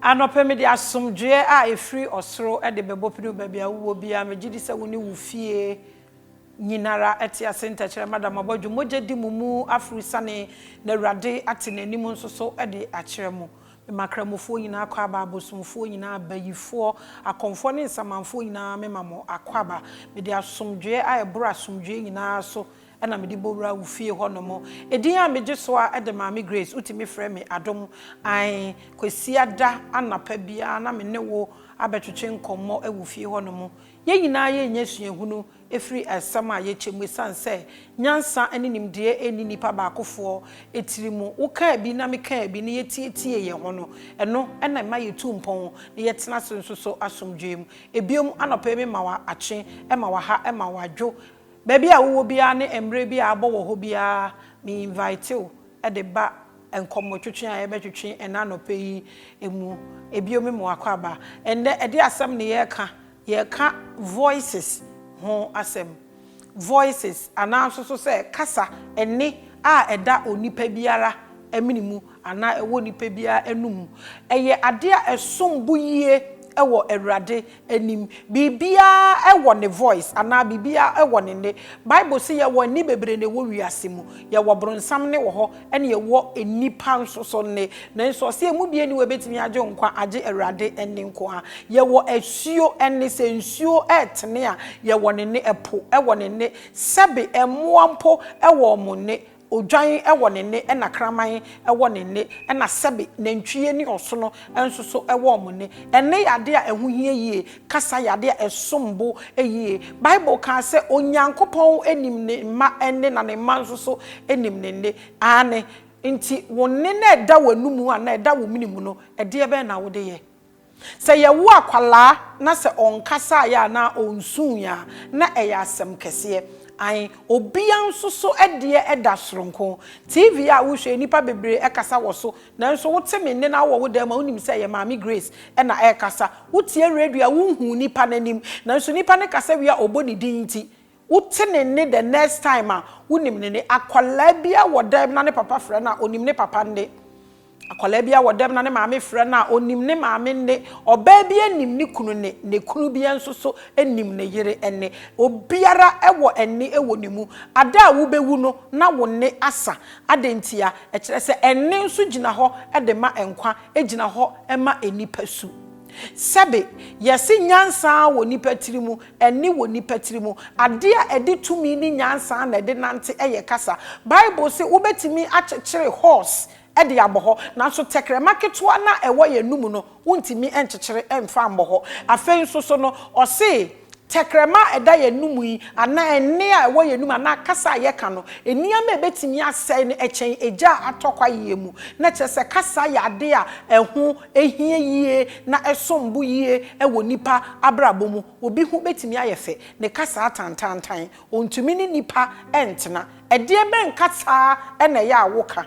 Anɔpa mede asomdwoeɛ a ɛfiri ɔsoro de bɛbɔ pini wo baabi a wowɔ biara, megye di sɛ wo ne wo fie nyinara te ase, ntɛkyerɛma da mo abɔdwe, mogya di mo mu, afuru sane, na Awurade ate n'anim nso so de akyerɛ mo. Mema Kramofoɔ nyinaa akwaaba, abosomfoɔ nyinaa, abayifoɔ, akɔmfoɔ ne nsamanfoɔ nyinaa mema mo akwaaba, mede asomdwoeɛ a ɛboro asomdwoeɛ nyinaa so na mede bɔwura wo fie hɔ nom. Edin a megye so a ɛde Maame Grace, wotumi frɛ me Adom. Ae, Kwasiada anapa biara na me ne wo abɛtwetwe nkɔmmɔ wɔ fie hɔ nom. Yɛn nyinaa yɛrenya suahunu afiri asɛm a yɛkyɛ mu esiane sɛ nyansa ne nimdeɛ nni nnipa baakofoɔ tiri mu. Wo kaa bi na me kaa bi na yɛtietiee yɛn ho no, ɛno na ɛma yɛtu mpɔn na yɛtena ase nso so asomdwoeɛ mu. Ebiom, anɔpa yi mema wo akye, ɛma wo aha, ɛma wo adwo. Baabi a wowɔ biara ne mmerɛ bi a abɔ wɔ hɔ biara, me invite wo de ba nkɔmmɔtwetwe a yɛbɛtwetwe ɛnnɛ anɔpa yi mu. Bio me ma w'akwaaba. Ɛnnɛ ɛde asɛm na yɛreka, yɛreka voices ho asɛm. Voices anaa nso so sɛ kasa, ɛnne a ɛda onipa biara mene mu anaa ɛwɔ nipa biara anum. Ɛyɛ adeɛ a ɛsom bo yie wɔ Awurade anim. Biribiara wɔ ne voice anaa biribiara wɔ ne nne. Bible se yɛwɔ nne bebree na ɛwɔ wiase mu. Yɛwɔ bronsam nne wɔ hɔ ɛna yɛwɔ nnipa nso so nne. Nanso ɔse ɛmu biara nni hɔ a ɛbɛtumi agye wo nkwa agye Awurade nne nko ara. Yɛwɔ asuo nne, sɛ nsuo retene a yɛwɔ ne nne, ɛpo wɔ ne nne, sɛbe mmoa mpo wɔ wɔn nne. Odwan wɔ ne nne, ɛnna kraman wɔ ne nne, ɛnna sɛbe nantwie ne ɔsono nso so wɔ wɔn nne. Ɛnne yɛ ade a ɛho hia yie. Kasa yɛ ade a ɛsom bo yie. Bible kaa sɛ, Onyankopɔn nim ne mma nne, na ne mma nso so nim ne nne. Aane. Enti wo nne no a ɛda w'anomu anaa ɛda wo mene mu no, ɛdeɛ bɛn na wode yɛ? Sɛ yɛwo akwadaa na sɛ ɔnkasaeɛ anaa ɔnsuiɛ a, na ɛyɛ asɛm kɛseɛ. Ae, obiara nso so deɛ da soronko. TV a wohwɛ yi, nnipa bebree kasa wɔ so, nanso wote me nne na wowɔ wo dan mu a, wonim sɛ ɛyɛ Maame Grace na ɛrekasa. Wotie radio a, wonhu nipa no anim, nanso nipa no kasa wie a, ɔbɔ ne din nti, Wote ne nne the next time a, wonim ne nne. Akwadaa bi ara wɔ dɛm na ne papa frɛ no a, ɔnim ne papa nne. Akwadaa bi ara wɔ dɛm na ne maame frɛ no a, ɔnim ne maame nne. Ɔbaa bi ara nim ne kunu nne, na kunu bi ara nso so nim ne yere nne. Obiara wɔ nne wɔ ne mu. Ada a wobɛwu no, na wo nne asa. Adɛn ntia? Ɛkyerɛ sɛ nne nso gyina hɔ de ma nkwa, ɛgyina hɔ ma nipasu. Sɛbe, yɛse nyansa ara wɔ nnipa tiri mu, ɛnne wɔ nnipa tiri mu. Adeɛ a ɛde tumi ne nyansa na ɛde nante yɛ kasa. Bible se wobɛtumi akyekyere horse de abɔ hɔ, nanso tɛkrɛma ketewa no a ɛwɔ yɛn anomu no, wontumi nkyekyere mfa mmɔ hɔ. Afei nso so no, ɔse. Tɛkrɛma a ɛda yɛn anom yi, anaa nne a ɛwɔ yɛn anom, anaa kasa a yɛka no, nneɛma a ebetumi asɛe no kyɛn egya a atɔ kwae yɛ mu. Na kyerɛ sɛ kasa yɛ ade a ɛho hia yiye na ɛsom bo yiye wɔ nnipa abrabɔ mu. Obi ho betumi ayɛ fɛ, ne kasa atantantan, ontumi ne nnipa ntena. Ɛdeɛbɛn kasa na ɛyɛ a woka?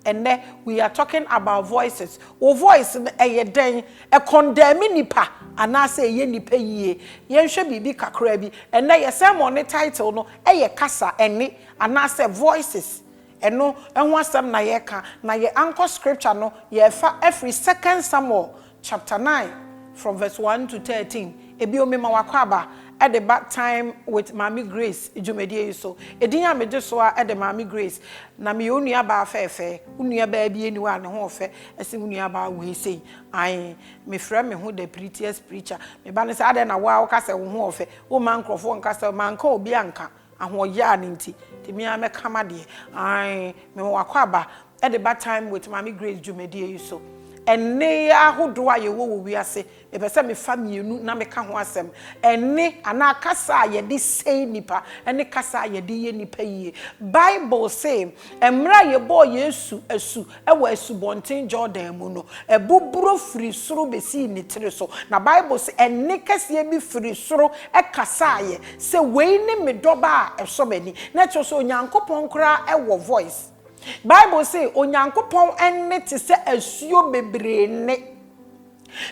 Ɛnnɛ we are talking about voices, wo voice no ɛyɛ dɛn? Ɛkɔndɛɛme nnipa anaasɛ ɛyɛ nnipa yie? Yɛnhwɛ biribi kakra bi, ɛnnɛ yɛ sermon no title no yɛ Kasa, Ɛnne anaasɛ Voices. Ɛno ho asɛm na yɛreka, na yɛn anchor scripture no yɛrefa afiri Second Samuel Chapter nine from verse one to thirteen Ebio mema w'akwaaba de ba Time with Maame Grace dwumadie yi so. Edin a megye so ara de Maame Grace na meyɛ wo nuabaa fɛɛfɛɛ, wo nuabaa bi nni hɔ a ne ho ɔfɛ sen wo nuabaa wei sei. Ae, mefrɛ me ho the prettiest preacher. Me ba no sɛ adɛn na wo ara woka sɛ wo ho ɔfɛ? Womma nkurɔfoɔ nka sɛ manka obi anka. Ahoɔyaa no nti de me ara mɛka m'adeɛ ae mewɔ w'akwaaba de ba time with Maame Grace dwumadie yi so. Ɛnne ahodoɔ a yɛwɔ wɔ wiase mepɛ sɛ mefa mmienu na meka ho asɛm, ɛnne anaa kasa a yɛde sɛe nnipa ne kasa a yɛde yɛ nnipa yie. Bible se mmerɛ a yɛbɔɔ Yesu asu wɔ Asubɔnten Yordan mu no, ɛbo buro firii soro bɛsii ne tiri so, na Bible se, Ɛnne kɛseɛ bi firii soro kasaeɛ sɛ, Wei ne me dɔba a ɛsɔ m'ani. Na kyerɛ sɛ, Onyankopɔn koraa wɔ voice. Bible se, Onyankopɔn nne te sɛ asuo bebree nne.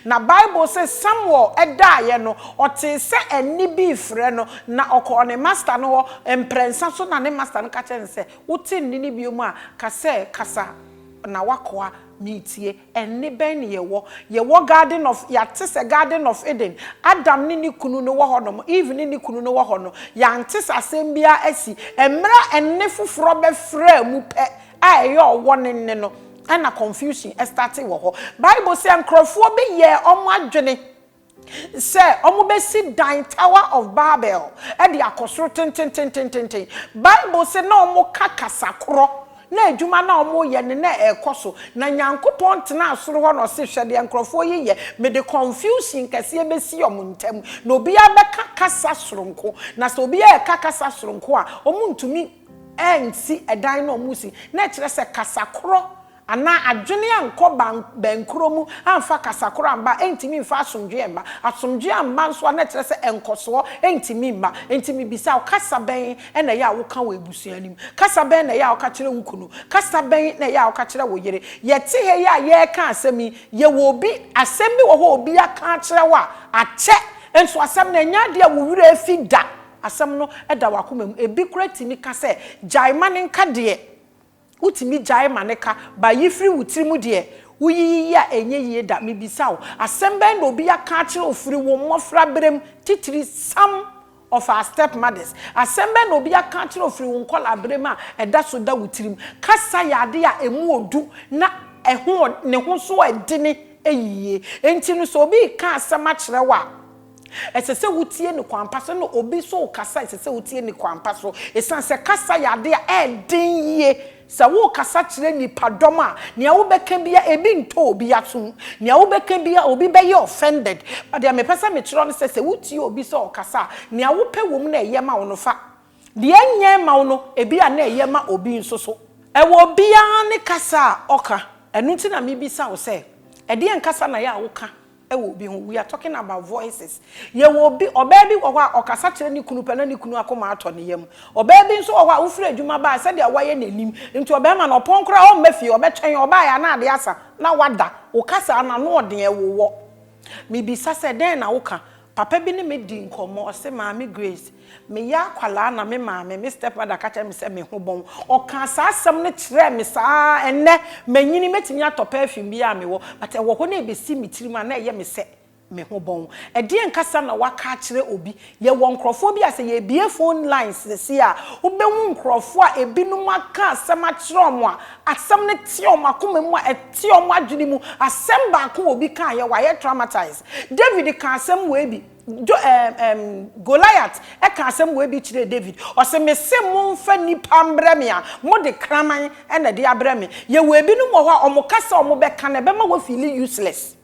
Na Bible se Samuel daaeɛ no, ɔtee sɛ ɛnne bi refrɛ no, na ɔkɔɔ ne masta no hɔ mprɛnsa so, na ne masta no ka kyerɛɛ no sɛ, Wote nne no bio a, ka sɛ, 'Kasa, na w'akoa, meretie. Ɛnne bɛn na yɛwɔ? Yɛwɔ Garden of, yɛate sɛ Garden of Eden, Adam ne ne kunu no wɔ hɔnom, Eve ne ne kunu no wɔ hɔ no, yɛante sɛ asɛm biara asi. Mmerɛ a ɛnne foforɔ bɛfraa mu pɛ a ɛyɛ ɔwɔ no nne no, Ɛna confusion startee wɔ hɔ. Bible sɛ nkurɔfoɔ bi yɛɛ wɔn adwene sɛ wɔbɛsi dan Tower of Babel de akɔ soro tentententententen. Bible sɛ na wɔka kasa korɔ, na adwuma no a wɔreyɛ no na ɛrekɔ so. Na Nyankopɔn tenaa soro hɔ na ɔse, hwɛ deɛ nkurɔfoɔ yi yɛ, mede confusion kɛseɛ bɛsi wɔn ntam, na obiara bɛka kasa soronko, na sɛ obiara reka kasa soronko a, wɔntumi. ansi dan no a wɔresi, na ɛkyerɛ sɛ kasa korɔ anaa adwene ankɔ bɛn korɔ mu amfa kasa korɔ amba a, ɛntumi mfa asomdwoeɛ mma. Asomdwoeɛ amma nso a, na ɛkyerɛ sɛ nkɔsoɔ ntumi mma. Enti mebisa wo, kasa bɛn na ɛyɛ a woka wɔ abusua no mu? Kasa bɛn na ɛyɛ a woka kyerɛ wo kunu? Kasa bɛn na ɛyɛ a woka kyerɛ wo yere? Yɛte ha yi a yɛreka asɛm yi, yɛwɔ obi, asɛm bi wɔ hɔ a obi aka akyerɛ wo a, akyɛ nso asɛm no, ɛnyɛ adeɛ a wo werɛ afi da. Asɛm no da w'akoma mu. Ebi koraa tumi ka sɛ, Gyae ma no nka deɛ. Wotumi gyae ma no ka. Ba yi firi wo tirim deɛ woyiyi yi a ɛnyɛ yie da. Mebisa wo, asɛm bɛn na obi aka akyerɛ wo firi wo mmɔfraberem, titiri some of our step mothers? Asɛm bɛn na obi aka akyerɛ wo firi wo nkɔlaaberem a ɛda so da wo tirim? Kasa yɛ adeɛ a ɛmu ɔdu na ɛho ne ho nso ɛdene yie. Enti no sɛ obi reka asɛm akyerɛ wo a, Ɛsɛ sɛ wutie no kwan pa so. Ɛnna obi nso rekasa a, ɛsɛ sɛ wutie no kwan pa so. Esiane sɛ kasa yɛ ade a ɛden yiye, sɛ worekasa kyerɛ nnipadɔm a, nea wobɛka biara, ebi ntɔ obi asom. Nea wobɛka biara, obi bɛyɛ offended. But deɛ mepɛ sɛ mekyerɛ wo ne sɛ, sɛ wutie obi sɛ ɔrekasa a, nea wopɛ wom na ɛyɛ ma wo no, fa. Deɛ ɛnyɛ mma wo no, ebia na ɛyɛ ma obi nso so. Ɛwɔ obiara ne kasa a ɔka. Ɛno nti na mebisa wo sɛ, ɛdeɛn kasa na ɛyɛ a woka? wɔ obi ho, we are talking about voices, yɛwɔ obi, ɔbaa bi wɔ hɔ a ɔkasa kyerɛ ne kunu pɛ na ne kunu akoma atɔ ne yam, ɔbaa bi nso wɔ hɔ a wofiri adwuma ba a sɛdeɛ wayɛ n'anim nti ɔbarima no ɔpɔn koraa ɔmma fie, ɔbɛtwɛn ɔbaeɛ a na adeɛ asa na wada, wo kasa a n'ano ɔden ɛwowɔ. Mebisa sɛ dɛn na woka? Papa bi ne me dii nkɔmmɔ, ɔse, Maame Grace, Meyɛ akwadaa na me maame, me stepmother, ka kyerɛ me sɛ me ho bɔn. Ɔkaa saa asɛm no kyerɛɛ me saa ara. Ɛnnɛ, manyini, mɛtumi atɔ perfume biara a mewɔ, but ɛwɔ hɔ na ɛbɛsi me tirim a na ɛyɛ me sɛ me ho bɔn. Ɛdeɛn ankasa na woaka akyerɛ obi? Yɛwɔ nkorɔfoɔ bi a sɛ yɛbue phone lines seesei a, wobɛhu nkorɔfoɔ a ɛbinom aka asɛm akyerɛ wɔn a, asɛm no te wɔn akoma mu a ɛte wɔn adwene mu. Asɛm baako a obi kaeɛ, wɔayɛ traumatized. David kaa asɛm wei bi. Jo, ɛɛm, ɛɛm, Goliat ka asɛm wei bi kyerɛɛ David. Ɔse, Mese momfa nnipa mbrɛ me a, mode kraman na ɛde abrɛ me. Yɛwɔ ebinom wɔ hɔ a, wɔka sɛ wɔbɛka no, ɛbɛma woafeeli useless.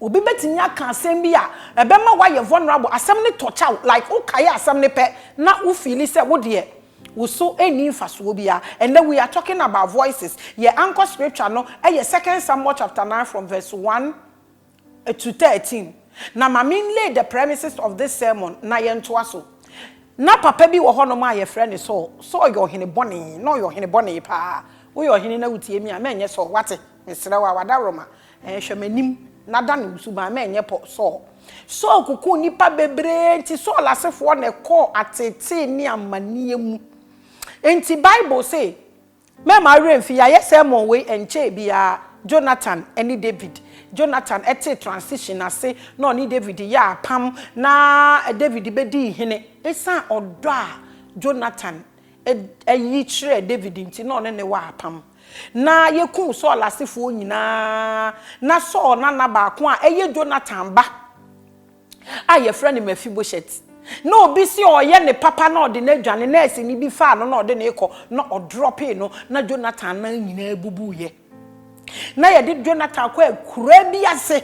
Obi bɛtumi aka asɛm bi a, ɛbɛma woayɛ vulnerable, asɛm no tɔkya wo, like wokae asɛm no pɛ na wofeeli sɛ wo deɛ, wo so nni mfasoɔ biara. Ɛnnɛ, we are talking about voices. Yɛ ankɔ scripture no, ɛyɛ Second Samuel chapter nine from verse one to thirteen, na ma me nlay the premises of this sermon na yɛntoa so. Ná papa bi wɔ hɔnom a wɔfrɛ no Saul. Saul yɛ ɔhene bɔne. Ná ɔyɛ ɔhene bɔne paa. Woyɛ ɔhene na wutie me a, mɛnyɛ Saul, woate? Mesrɛ wo a, w'adaworoma, ɛɛ, hwɛ m'anim na dane wo suban, mɛnyɛ Paul, Saul. Saul kokoo nnipa bebree, enti Saul asefoɔ na ɛkɔɔ ateetee ne amanneɛ mu. Enti Bible se. Mɛmma wo werɛ mfi. Yɛayɛ sermon wei ɛnkyɛe biara, Jonathan ne David. Jonathan tee transition ase na ɔne David yɛɛ apam na David bɛdii hene. Ɛsiane ɔdɔ a Jonathan yi kyerɛɛ David nti na ɔne no wɔ apam. Na yɛkum Saul asefoɔ nyinaa. Na Saul nana baako a ɛyɛ Jonathan ba. a yɛfrɛ no Mefiboset. Na obi se ɔyɛ ne papa na ɔde no adwane, nɛɛseni bi faa no na ɔde no rekɔ na ɔdrɔpee no na Jonathan nan nyinaa bubuiɛ. Na yɛde Jonathan kɔ akuraa bi ase.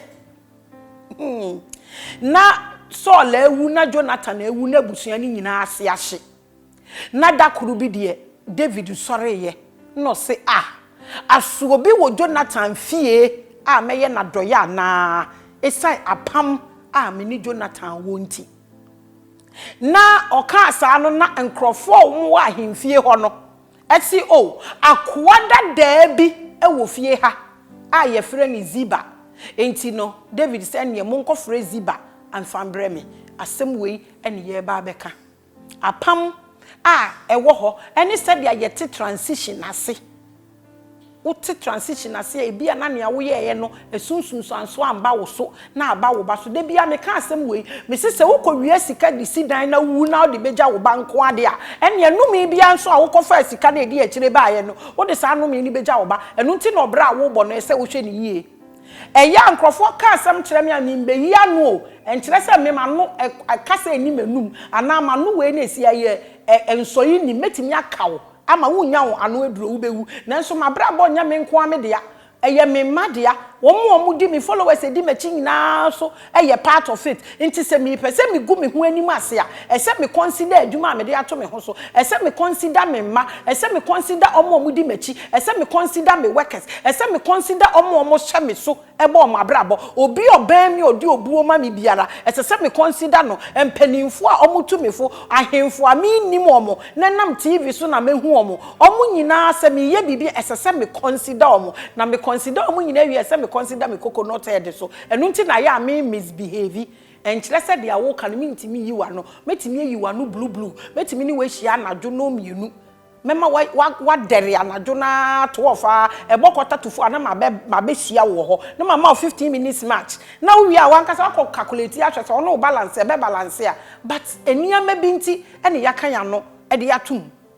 Hmm. Na Saul awu na Jonathan awu na abusua no nyinaa ase ahye. Na da koro bi deɛ, Dawid sɔreeɛ, na ɔse, Ah! Aso obi wɔ Jonathan fie a mɛyɛ no adɔeɛ anaa, ɛsiane apam a me ne Jonathan wɔ nti? Na ɔkaa saa no, na nkurɔfoɔ a wɔwɔ ahemfie hɔ no se, O, akoa dadaa bi wɔ fie ha a wɔfrɛ no Ziba. Enti no, Dawid se, Ɛnneɛ monkɔfrɛ Ziba mfa mbrɛ me. Asɛm wei na yɛreba abɛka. Apam a ɛwɔ hɔ ne sɛdeɛ yɛte transition ase. Wote transition ase a, ebi a na nea woyɛeɛ no, ɛso nsunsuansoɔ amba wo so na aba wo ba so. Da biara meka asɛm wei, mese sɛ wokɔwia sika de si dan na wowu na wode bɛgya wo ba nko ara deɛ a, ɛnneɛ nnome biara nso a wokɔfaa sika no a ɛdi akyire baeɛ no, wode saa nnome no bɛgya wo ba. Ɛno nti na ɔbra a worebɔ no, ɛsɛ sɛ wohwɛ no yie. Ɛyɛ a nkurɔfoɔ ka asɛm kyerɛ me a memmeyi ano o, ɛnkyerɛ sɛ me m'ano ɛ, kasa nni m'anum anaa m'ano wei na ɛsi ayɛ ɛ, nsɔe nnim. Mɛtumi aka wo ama wonnya wo ano aduro, wobɛwu. Nanso m'abrabɔ nyɛ me nko ara me dea, ɛyɛ me mma dea, wɔn a wɔdi me, followers a ɛdi m'akyi nyinaa nso Ɛyɛ part of it. Nti sɛ mepɛ sɛ megu me ho anim ase a, ɛsɛ me consider adwuma a mede ato me ho so, ɛsɛ me consider me mma, ɛsɛ me consider wɔn a wɔdi m'akyi, ɛsɛ me consider me workers, ɛsɛ me consider wɔn a wɔhyɛ me so bɔ wɔn abrabɔ. Obi a ɔbɛn me a ɔde obuo ma me biara, ɛsɛ sɛ me consider no. Mpanimfoɔ a wɔtu me fo, ahemfo a mennim wɔn na ɛnam TV so na mahu wɔn, wɔn nyinaa sɛ mereyɛ biribi a, ɛsɛ sɛ me consider wɔn. Na me consider wɔn nyinaa wie a, ɛsɛ me consider me coconut head nso. Ɛno nti na ayɛ a me misbehave. Ɛnkyerɛ sɛ deɛ woka no mentumi nyi w'ano. Mɛtumi ayi w'ano blublu. Mɛtumi ne wo ahyia anadwo nnɔn mmienu. Mɛma woadɛre anadwo no ara twelve ara, ɛbɔ quarter to four a na mabɛhyia wo wɔ hɔ na mama wo fifteen minutes match. Na wowie a w'ankasa woakɔ calculate ahwɛ sɛ ɔne wo balance a ɛbɛbalance a. But nneɛma bi nti na yɛaka yɛn ano de ato mu.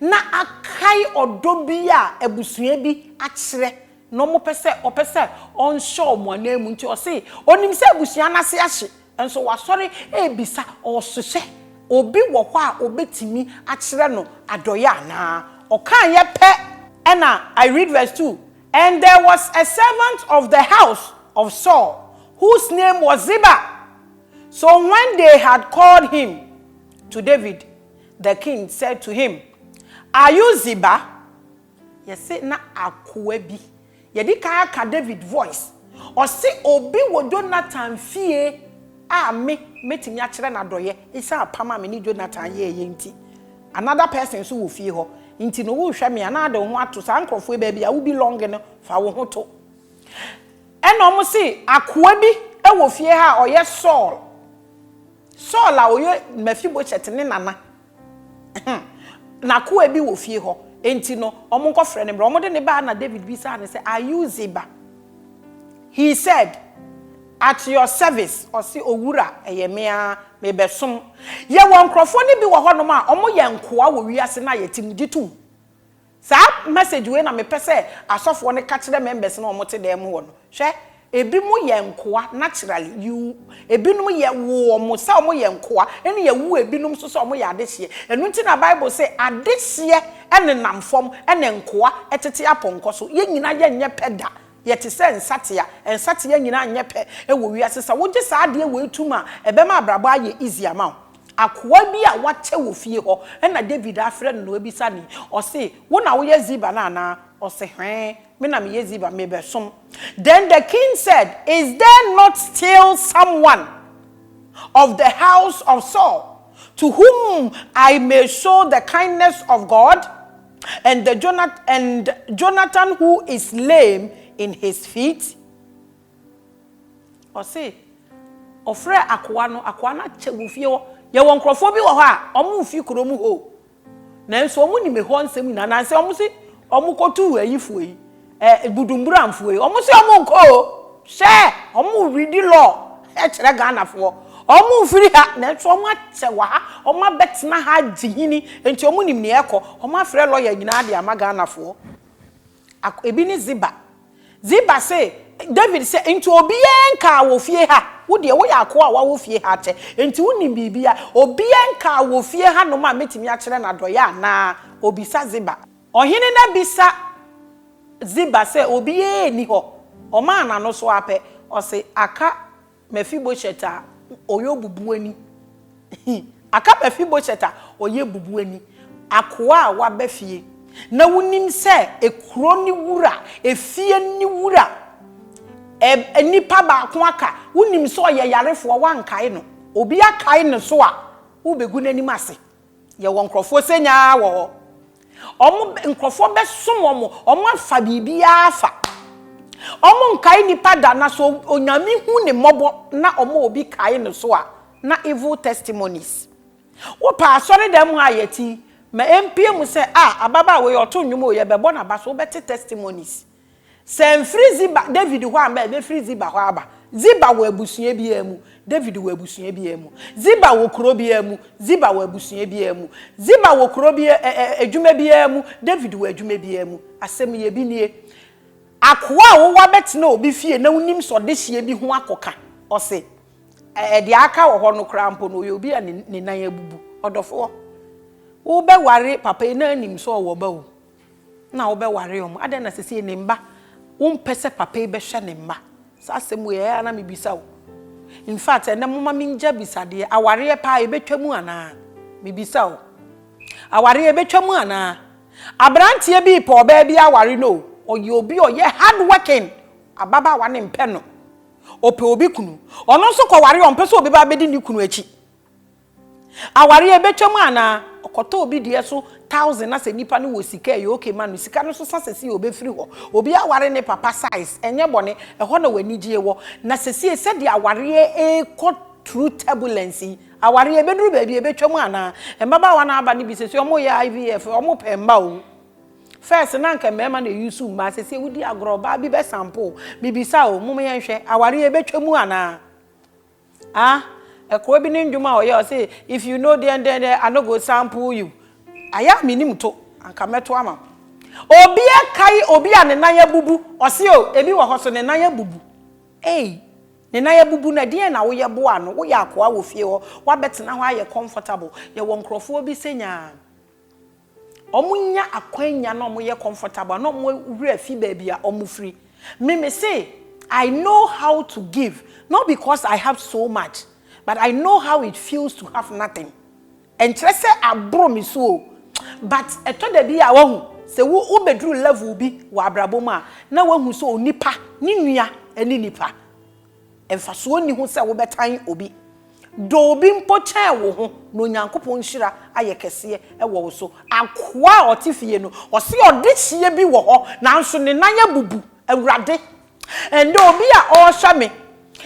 na akae ɔdɔ bi a abusua bi akyerɛ na wɔpɛ sɛ ɔpɛ sɛ ɔnhyɛ wɔn ananmu nti ɔse ɔnim sɛ abusua no ase ahye nso wasɔre rebisa ɔse sɛ obi wɔ hɔ a ɔbɛtumi akyerɛ no adɔeɛ anaa. Ɔkaeɛ pɛ na I read verse two And there was a servant of the house of Saul whose name was Ziba, so when they had called him to David, The king said to him, Are you Ziba? Yɛse na akoa bi. Yɛdi kan aka David voice. Ɔse obi wɔ Jonathan fie a me mɛtumi akyerɛ no adɔeɛ ɛsiane apam a me ne Jonathan yɛeɛ nti. Another person nso wɔ fie hɔ. Nti no worehwɛ me a na ade wo ho ato saa nkurɔfoɔ yi baabi a wo belong no fa wo ho to. Ɛna wɔn se akoa bi wɔ fie ha a ɔyɛ Saul Saul a ɔyɛ Mefiboset ne nana, n'akoa bi wɔ fie hɔ, enti no, wɔnkɔfrɛ no mmra. Wɔde no baeɛ na David bisaa no sɛ, Are you Ziba? He said, At your service, ɔse, Owura, ɛyɛ me ara, mebɛsom. Yɛwɔ nkurɔfoɔ no bi wɔ hɔnom a wɔyɛ nkoa wɔ wiase no a yɛte mu, gye tom. Saa message wei na mepɛ sɛ asɔfoɔ no ka kyerɛ members no a wɔte dan mu hɔ no. Hwɛ, ebi mo yɛ nkoa naturally, you, ebinom yɛ wo wɔn sɛ wɔyɛ nkoa, ɛne yɛ wo ebinom nso sɛ wɔyɛ adehyeɛ. Ɛno nti na Bible se adehyeɛ nenam fam ɛne nkoa tete apɔnkɔ so. Yɛn nyina yɛ nyɛ pɛ da, yɛte sɛ nsatea, nsatea nyina nyɛ pɛ wɔ wiase. Sɛ wogye saa adeɛ wei tum a, ɛbɛma abrabɔ ayɛ easy ama wo. Akoa bi a wɔakyɛ wɔ fie hɔ na David afrɛ no na wabisa no yi. Ɔse, Wo na woyɛ Ziba no anaa? Ɔse, Hwɛe, me na meyɛ Ziba, mebɛsom. Then the king said, Is there not still someone of the house of Saul to whom I may show the kindness of God? And Jonathan who is lame in his feet? Ɔse ɔfrɛɛ akoa no, akoa no akyɛ wɔ fie hɔ. Yɛwɔ nkorɔfoɔ bi wɔ hɔ a, wɔn mfi kurom hoo. Nanso wɔn nim ɛhɔ nsɛm nyinaa. Anansɛ wɔn se wɔn kɔtuu ayifoɔ yi, eh, Budumburamfoɔ yi. Wɔn se wɔn nkɔ o. Hwɛ! Wɔn redi law kyerɛ Ghanafoɔ. Wɔn mfiri ha, nanso wɔn akyɛ wɔ ha. Wɔn abɛtena ha agye hini, enti wɔn nim nea ɛrekɔ. Wɔn afrɛ lawyer nyinaa de ama Ghanafoɔ. Ak. Ebi ne Ziba. Ziba se Dawid sɛ, Enti obiara nkaa wɔ fie ha? Wo deɛ, woyɛ akoa a woawo fie ha akyɛ, enti wonim biribiara. Obiara nkaa wɔ fie hanom a mɛtumi akyerɛ no adɔeɛ anaa? Ɔbisa Ziba. Ɔhene no abisa Ziba sɛ, Obiara nni hɔ? Ɔmaa n'ano so ara pɛ, ɔse, Aka. Mephibosheth a ɔyɛ obubuani He aka Mephibosheth a ɔyɛ obubuani, akoa a waba fie, na wunim sɛ ekuro ne wura, efie ne wura, ɛ, nipa baako aka, wunim sɛ ɔyɛ yarefoɔ, woankae no. Obi akae no so a, wobɛgu n'anim ase. Yɛwɔ nkurɔfoɔ sɛ nya ara wɔ hɔ. Wɔn, nkurɔfoɔ bɛsom wɔn, wɔn afa biribiara afa. Wɔn nkae nipa da, na sɛ Onyame hu ne mmɔbɔ na wɔma obi kae no so a, na evil testimonies. Wopɛ asɔredan mu a yɛte yi, ma ɛmpue mu sɛ, ah, ababaawa yi ɔto nnwom o, yɛbɛbɔ n'aba so, wobɛte testimonies. Sɛ mfiri Ziba, David hɔ amba a, ɛbɛfiri Ziba hɔ aba. Ziba wɔ abusua biara mu, David wɔ abusua biara mu. Ziba wɔ kuro biara mu, Ziba wɔ abusua biara mu. Ziba wɔ kuro bi, ɛ, ɛ, adwuma biara mu, David wɔ adwuma biara mu. Asɛm yɛ bi nie. Akoa a wowɔ abɛtena obi fie na wonim sɛ ɔde hyeɛ bi ho akɔka. Ɔse, ɛ, ɛ, deɛ aka wɔ hɔ no koraa mpo no, ɔyɛ obi a ne, ne nan abubu. Ɔdɔfoɔ, wobɛware papa yi na anim sɛ ɔwɔ ba o. na wobɛware wɔn? Adɛn na seesei ne mma wompɛ sɛ papa yi bɛhwɛ ne mma? Saa asɛm wei, ɛyɛ ara na mebisa o. In fact, ɛnnɛ momma mengye abisadeɛ, awareɛ paa, ɛbɛtwa mu anaa? Mebisa o. Awareɛ, ɛbɛtwa mu anaa? Aberanteɛ bi repɛ ɔbaa bi aware no o, ɔyɛ obi a ɔyɛ hard working, ababaawa no mpɛ no, ɔpɛ obi kunu. Ɔno nso kɔware a, ɔmpɛ sɛ obi ba abɛdi ne kunu akyi. Aware a ɛbɛtwa mu anaa? Ɔkɔtɔ obi deɛ so thousand na sɛ nipa no wɔ sika ɛyɛ okay ma no. Sika no so sa sesie ɔbɛfiri hɔ. Obi aware ne papa size ɛnyɛ bɔne, ɛhɔ na w'anigyeɛ wɔ. Na sesie sɛdeɛ awareɛ ɛrekɔ through turbulence yi, awareɛ ɛbɛduru baabi a ɛbɛtwa mu anaa? Mmabaawa no a aba no bi sesie wɔyɛ IVF, wɔpɛ mma o. First na anka mmarima na ɛuse mmaa, sesie wodi agorɔ, ɔbaa bi bɛsampo wo. Mebisa o, mom yɛnhwɛ, awareɛ ɛbɛtwa mu anaa? Ah ɛkoa bi ne ndwom a ɔyɛ ɔse if you know deɛn deɛn deɛn I no go sample you ayɛ a menim to anka mɛto ama wo obi ɛkae obi a ne nan abubu ɔse o ebi wɔ hɔ so ne nan abubu ei ne nan abubu no ɛdeɛn na woyɛ boaa no woyɛ akoa wɔ fie hɔ wabɛtena hɔ ayɛ comfortable yɛwɔ nkorɔfoɔ bi sɛnyaa. Wɔnya akwan nya na wɔyɛ comfortable na wɔn werɛ fi baabi a wɔfiri. Me me se I know how to give not because I have so much but I know how it feels to have nothing. Ɛnkyerɛ sɛ aboro me so o but ɛtɔ da bi a wahu sɛ wo wobɛduru level bi wɔ abrabɔ mu a na wahu sɛ onipa ne nua ne nipa. Mfasoɔ nni ho sɛ wobɛtan obi, dɔ obi mpo kyɛn wo ho, na Onyankopɔn nhyira ayɛ kɛseɛ wɔ wo so. Akoa a ɔte fie no, ɔse ɔdehyeɛ bi wɔ hɔ nanso ne nan abubu. Awurade, ɛnnɛ obi a ɔrehwɛ me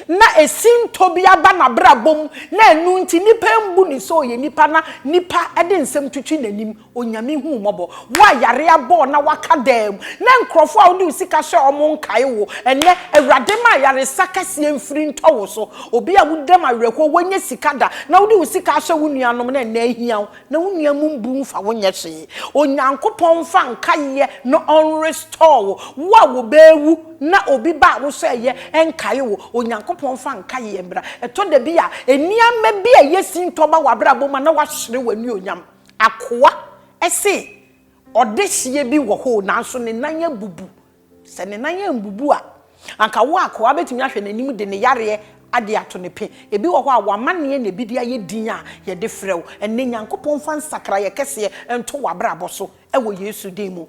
na esintɔ bi aba n'abrabɔ mu na ɛno nti nnipa mbu no sɛ ɔyɛ nipa na nnipa de nsɛm twitwi n'anim. Onyame hu wo mmɔbɔ. Wo a yare abɔ wo na woaka dan mu, na nkurɔfoɔ a wode wo sika hyɛɛ wɔn nkae wo, ɛnnɛ, Awurade ma ayaresa kɛseɛ mfiri ntɔ wo so. Obi a woda mu awerɛhoɔ, woannya sika da, na wode wo sika ahyɛ wo nuanom na ɛnnɛ ahia wo, na wo nua mu mbu mfa wo nyɛ hwee. Onyankopɔn mfa nkaeɛ na ɔnrestore wo. Wo a wɔbɛwu na obi ba a wohyɛeɛ nkae wo, Onyankopɔn mfa nkaeɛ mmra. Ɛtɔ da bi a, nneɛma bi a ɛyɛ sintɔ ba w'abrabɔ mu a na woahwere w'anuonyam. Akoa se ɔdehyeɛ bi wɔ hɔ o, nanso ne nan abubu. Sɛ ne nan ambubu a, anka wo akoa bɛtumi ahwɛ n'anim de ne yareɛ ade ato ne pe. Ebi wɔ hɔ a, w'amanneɛ na ebi de ayɛ din a yɛde frɛ wo ɛnnɛ. Nyankopɔn mfa nsakraeɛ kɛseɛ nto w'abrabɔ so wɔ Yesu din mu.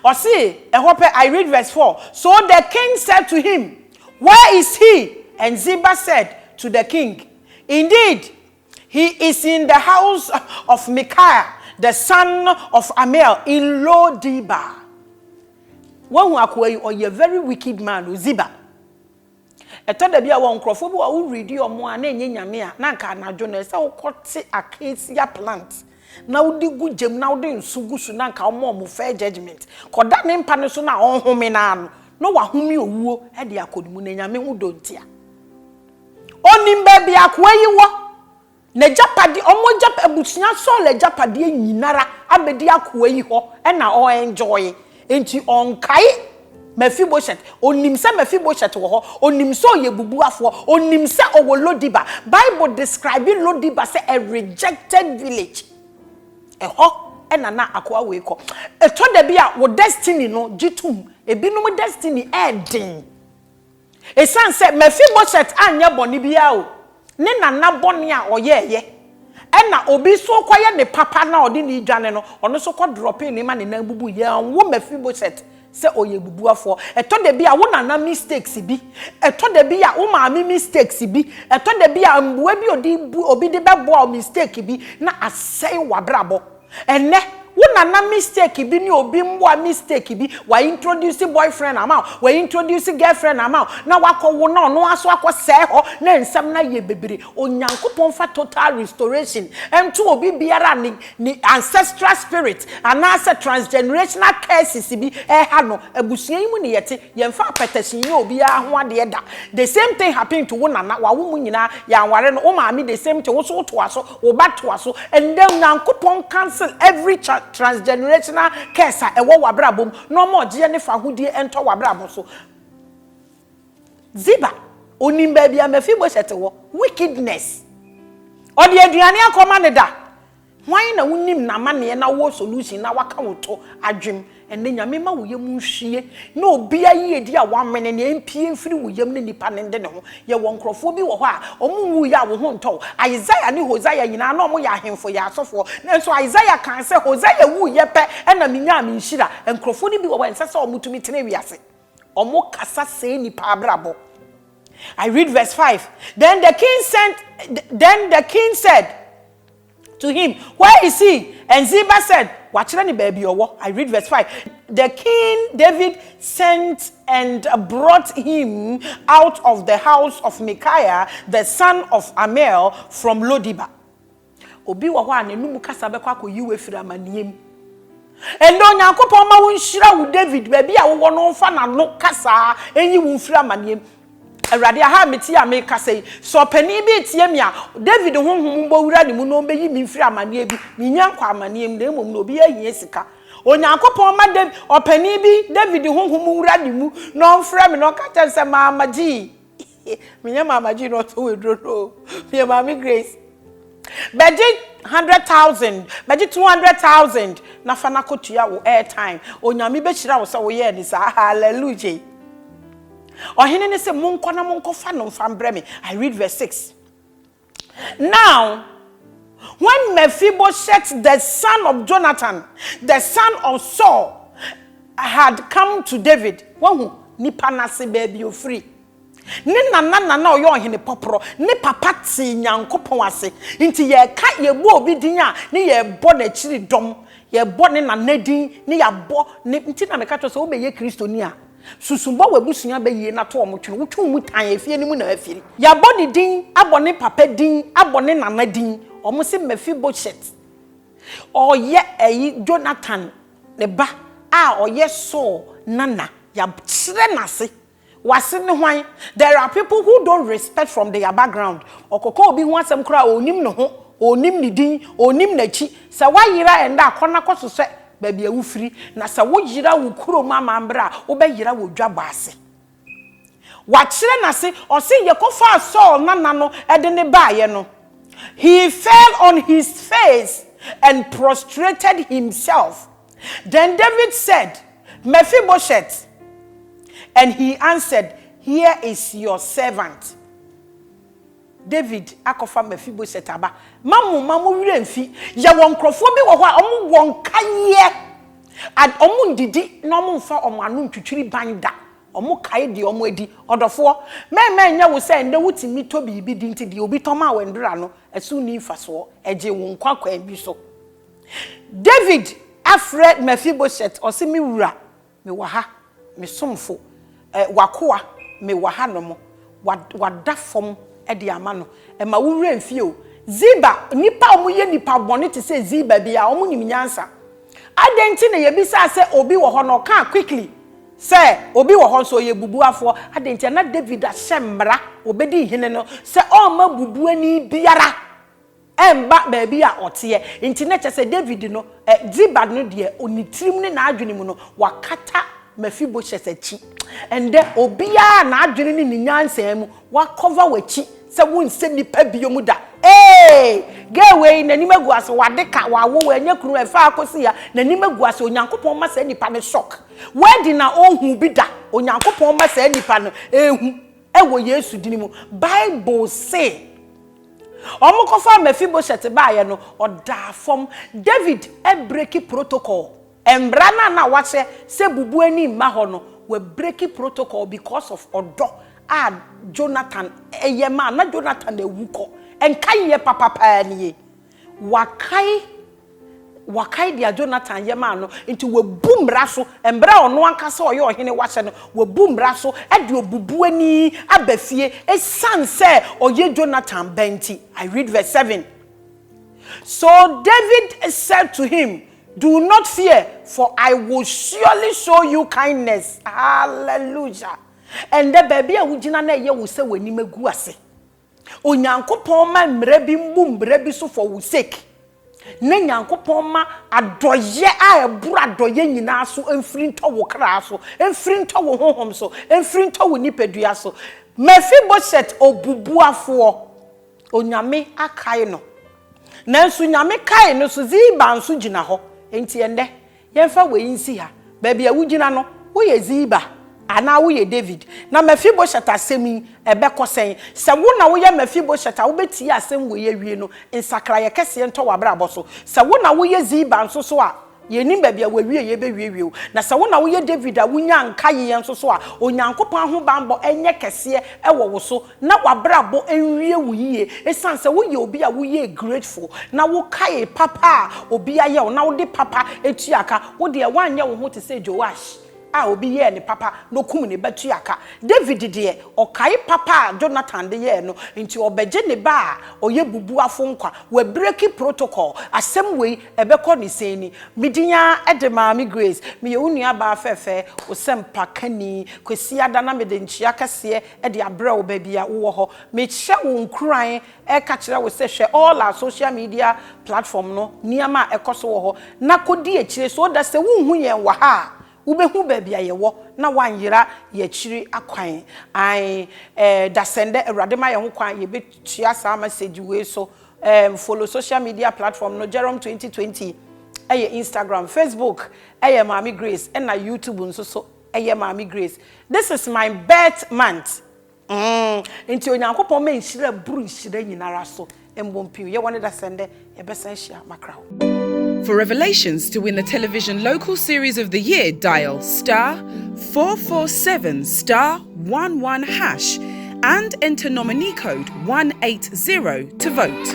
Ɔse, ɛhɔ pɛ, I read verse four, So the king said to him, Where is he? And Ziba said to the king, Indeed, He is in the house of Micaiah the son of Amiel in Lo-Debar. Woahu akoa yi, ɔyɛ very wicked man o, Ziba. Ɛtɔ da bi a wɔ nkurɔfoɔ bi wɔ a woredi wɔn a na ɛnyɛ nyame a na anka anadwo no ɛsɛ wokɔte acacia plant na wode gu gyam na wode nso gu so na anka wɔma wɔn fair judgement. Kɔda ne mpa no so no a ɔnhome no ara no na wahome owuo de akɔ ne mu na nyame ho dɔ nti a. Ɔnim baabi a akoa yi wɔ. N'agyapade, wɔn agyap, abusua Saul agyapadeɛ nyinara abɛdi akoa yi hɔ na ɔ enjoy. Enti ɔnkae Mephibosheth. Ɔnim sɛ Mephibosheth wɔ hɔ. Ɔnim sɛ ɔyɛ bubuafoɔ. Ɔnim sɛ ɔwɔ Lodiba. Bible describe Lodiba sɛ a rejected village. Ɛhɔ na na akoa wei kɔ. Ɛtɔ da bi a wo destiny no gye tom. Ebinom destiny ɛɛden. Esiane sɛ Mefiboset anyɛ bɔne biara o, ne nana bɔne a ɔyɛeɛ, ɛnna obi nso rekɔyɛ ne papa na ɔde no redwane no, ɔno nso kɔdrɔpee no ma ne nan bubuui. Yɛanwo Mefiboset sɛ ɔyɛ obubuafoɔ. Ɛtɔ da bi a, wo nana mistakes bi, ɛtɔ da bi a, wo maame mistakes bi, ɛtɔ da bi a, mmoa bi a ɔde bu obi de bɛboa wo mistake bi na asɛe w'abrabɔ. Ɛnnɛ, wo nana mistake bi ne obi mmoa mistake bi, wa introduce boyfriend ama wo, wa introduce girlfriend ama wo, na wakɔ wo na ɔno ara so akɔ sɛɛ hɔ na nsɛm no ayɛ bebree. Onyankopɔn mfa total restoration nto obi biara a ne ne ancestral spirit anaasɛ transgenerational curses bi ɛreha no. Abusua yi mu ne yɛte, yɛmfa apɛtɛhye nyɛ obiara ho adeɛ da. The same thing happened to wo nana, wawo mo nyinaa, yɛanware no, wo maame the same thing, wo nso wotoa so, Wobatoa so. Ndɛ Nyankopɔn cancel every transgenerational curse a ɛwɔ wabrabɔ mu na ɔma ɔgyeɛ ne fahodie ntɔ wabrabɔ so. Ziba, onim baabi a Mephibosheth wɔ. Wickedness. Ɔde aduane akɔma no da. Hwan na wonim namanneɛ na wowɔ solution na waka wo to adwem Ɛnnɛ, Nyame ma wo yam nhwie ne obia yiedi a woamene nea ɛmpie mfiri wo yam ne nipa no nde ne ho. Yɛwɔ nkurɔfoɔ bi wɔ hɔ a wɔn nwuiɛ a wo ho ntɔ wo. Isaiah ne Hosea nyinaa na wɔyɛ ahemfo yɛ asɔfoɔ. Nanso Isaiah kae sɛ, Hosea wuiɛ pɛ na menyaa me nhyira. Nkurɔfoɔ no bi wɔ hɔ a ɛnsɛ sɛ wɔn tumi tena wiase. Wɔn kasa sɛe nnipa abrabɔ. I read verse five, Then the king sent, then the king said, To him, Where is he? And Ziba said, Wɔakyerɛ no baabi a ɔwɔ. I read verse five, The king David sent and brought him out of the house of Micaiah the son of Amiel from Lo-debar. Obi wɔ hɔ a n'anom kasa bɛkɔ akɔyi wo afiri amanneɛ mu. Ɛnnɛ Onyankopɔn mma wonhyira wo David, baabi a wowɔ no ɔmfa n'ano kasa nyi wo mfiri amanneɛ mu. Awurade, aha a mete a merekasa yi, sɛ ɔpanin bi retie me a, David honhom mmɔ wura ne mu na ɔmmɛyi me mfiri amanneɛ bi, mennya nkɔ amanneɛ mu, na mmom na obiara hia sika. Onyankopɔn mma Dav, ɔpanin bi, David honhom nwura ne mu na ɔmfrɛ me na ɔka kyerɛ me sɛ, Maama Gyee. Menyɛ Maama Gyee na ɔtɔn aduro no o. Meyɛ Maame Grace. Bɛgye hundred thousand, bɛgye two hundred thousand na fa no akɔtua wo airtime. Onyame bɛhyira wo sɛ woyɛɛ ne saa. Hallelujah. Ɔhene no se, Monkɔ na monkɔfa no mfa mbrɛ me. I read verse 6. Now, when Mephibosheth the son of Jonathan, the son of Saul, had come to David, wahu nipa no ase baabi ofiri. Ne nana na na ɔyɛ ɔhene pɔporɔ. Ne papa tee Nyankopɔn ase. Nti yɛka, yɛbɔ obi din a, ne yɛbɔ n'akyiri dɔm. Yɛbɔ ne nana din, ne yɛabɔ ne, nti na meka kyerɛ wo sɛ wobɛyɛ Kristoni a, Susu bɔ w'abusua bɛ yie na to wɔn twene. Wotwe wo mu tan a, efie no mu na afiri. Yɛabɔ ne din, abɔ ne papa din, abɔ ne nana din. Wɔse Mefiboshet, ɔyɛ ɛyi, Jonathan ne ba a ɔyɛ Saul nana. Yɛakyerɛ n'ase. W'ase ne hwan? There are people who don't respect from their background. Ɔkɔka obi ho asɛm koraa a, ɔnnim ne ho, ɔnnim ne din, ɔnnim n'akyi. Sɛ woayera ɛnnɛ a, kɔ na kɔsosɛ baabi a wofiri, na sɛ woyera wo kurom amambra a, wobɛyera wɔ dwabɔ ase. Wakyerɛ n'ase, ɔse, Yɛkɔfaa Saul nana no de no baeɛ no, he fell on his face and prostrated himself. Then David said, Mephibosheth. And he answered, Here is your servant. David akɔfa Mefiboset aba. Mma mo mma mo werɛ mfi. Yɛwɔ nkurɔfoɔ bi wɔ hɔ a wɔwɔ nkaeɛ. Ad, wɔnnidi na wɔmmfa wɔn ano ntwitwiri ban da. Wɔkae deɛ wɔadi. Ɔdɔfoɔ, mɛn mɛn nyɛ wo sɛ ɛnnɛ wotumi tɔ biribi di nti deɛ obi tɔ maa wo ɛndora ano, ɛso nni mfasoɔ. Ɛgyee wo nkwa kwan bi so. David afrɛ Mefiboset, ɔse, Me wura, Mewɔ ha, me somfo, eh, w'akoa, mewɔ ha nom, wa, wada fam de ama no, mma wo werɛ mfi o. Ziba, nnipa a wɔyɛ nnipa bɔne te sɛ Ziba biara, wɔnim nyansa. Adɛn nti na yɛbisaa sɛ obi wɔ hɔ na ɔkaa quickly sɛ obi wɔ hɔ nso ɔyɛ bubuafoɔ? Adɛn nti? Na David ahyɛ mmara, ɔbɛdi hene no, sɛ ɔremma bubuani biara. Ɛmma baabi a ɔteɛ. Enti na kyerɛ sɛ Dawid no, eh, Ziba no deɛ, ne tirim ne n'adwene mu no, wakata Mefiboshet akyi. Ɛnnɛ, obiara a n'adwene ne ne nyansa mu, wakɔva w'akyi sɛ wonsɛ nnipa bio mu da. Ee! Girl wei, n'anim agu ase, wade ka, wawo, wannya kunu, ɛfaa akɔsi ha, n'anim agu ase, Onyankopɔn mma saa nipa no shock. Wedding a ɔnhuu bi da, Onyankopɔn mma saa nipa no ɛnhu. Wɔ Yesu din mu. Bible se, Wɔkɔfaa Mefiboset baeɛ no, ɔdaa fam. David abreki protocol. Mmara no a na wɔahyɛ sɛ bubu ani mma hɔ no, wabreki protocol because of ɔdɔ a Jonathan yɛ maa no. Na Jonathan awu kɔ. Nkaeɛ papa paa nie. Wakae, wakae deɛ Jonathan yɛ maa no, nti wabu mmara so, mberɛ a ɔno ankasa a ɔyɛ ɔhene wahyɛ no, wabu mmara so de obubuani aba fie, esiane sɛ ɔyɛ Jonathan ba nti. I read verse seven. So David said to him, Do not fear, for I will surely show you kindness. Hallelujah! Ɛndɛ baabi a wogyina na ɛyɛ wo sɛ w'anim agu ase. Onyankopɔn mma mmara bi mmu mmara bi so for wo sake, na Nyankopɔn mma adɔeɛ a ɛboro adɔeɛ nyinaa so mfiri ntɔ wo kra so, mfiri ntɔ wo honhom so, mfiri ntɔ wo nipadua so. Mephibosheth obubuafoɔ, Onyame akae no, nanso Nyame kae no so Ziba nso gyina hɔ, enti ɛnnɛ Yɛmfa wei nsi ha, Baabi a wugyina no, woyɛ Ziba anaa woyɛ Dawid? Na Mefiboset asɛm yi, ɛbɛkɔ sɛn? Sɛ wo na woyɛ Mefiboset a, wubetie asɛm wei awie no, nsakraeɛ kɛseɛ ntɔ w'abrabɔ so. Sɛ wo na woyɛ Ziba nso so a, yɛnnim baabi a w'awieeɛ bɛwiewie wo. Na sɛ wo na woyɛ Dawid a wunyaa nkaeɛ nso so a, Onyankopɔn ahobammɔ nyɛ kɛseɛ wɔ wo so. na w'abrabɔ nwie wo yie esiane sɛ woyɛ obi a woyɛɛ grateful na wokaee papa a obi ayɛ wo na wode papa tuaa ka. Wo deɛ, woanyɛ wo ho te sɛ Joash a obi yɛɛ no papa na okum ne ba tuaa ka. David deɛ, ɔkae papa a Jonathan de yɛɛ no, enti ɔrebɛgye ne ba a ɔyɛ bubuafo nkwa. Wabireki protocol. Asɛm wei, ɛbɛkɔ ne sɛn ni? Me din ara de Maame Grace. Meyɛ wo nuabaa fɛɛfɛɛ, wo sɛmpakani. Kwasiada na mede nkyea kɛseɛ de abrɛ wo baabi a wowɔ hɔ. Mehyɛ wo nkuran ka kyerɛ wo sɛ hwɛ all our social media platform no, nneɛma a ɛkɔ so wɔ hɔ, na kɔdi akyire so that sɛ wonhu yɛn wɔ ha a, wobɛhu baabi a yɛwɔ na woanyera yɛn akyiri akwan. Ae, eh, dasɛndɛ Awurade ma yɛn ho kwan yɛbɛtua saa message wei so. Em, follow social media platform no, Jerome 2020 ɛyɛ Instagram, Facebook ɛyɛ Maame Grace, ɛna YouTube nso so. Ɛyɛ Maame Grace. This is my birth month mm nti Onyankopɔn ma nhyira buru nhyira nyinara so mbɔ mpiw yɛwɔ ne da sɛ ndɛ yɛbɛsan ahyia makra hɔ. For Revelations to win the Television Local Series of the Year dial star four four seven star one one hash and enter nominee code one eight zero to vote.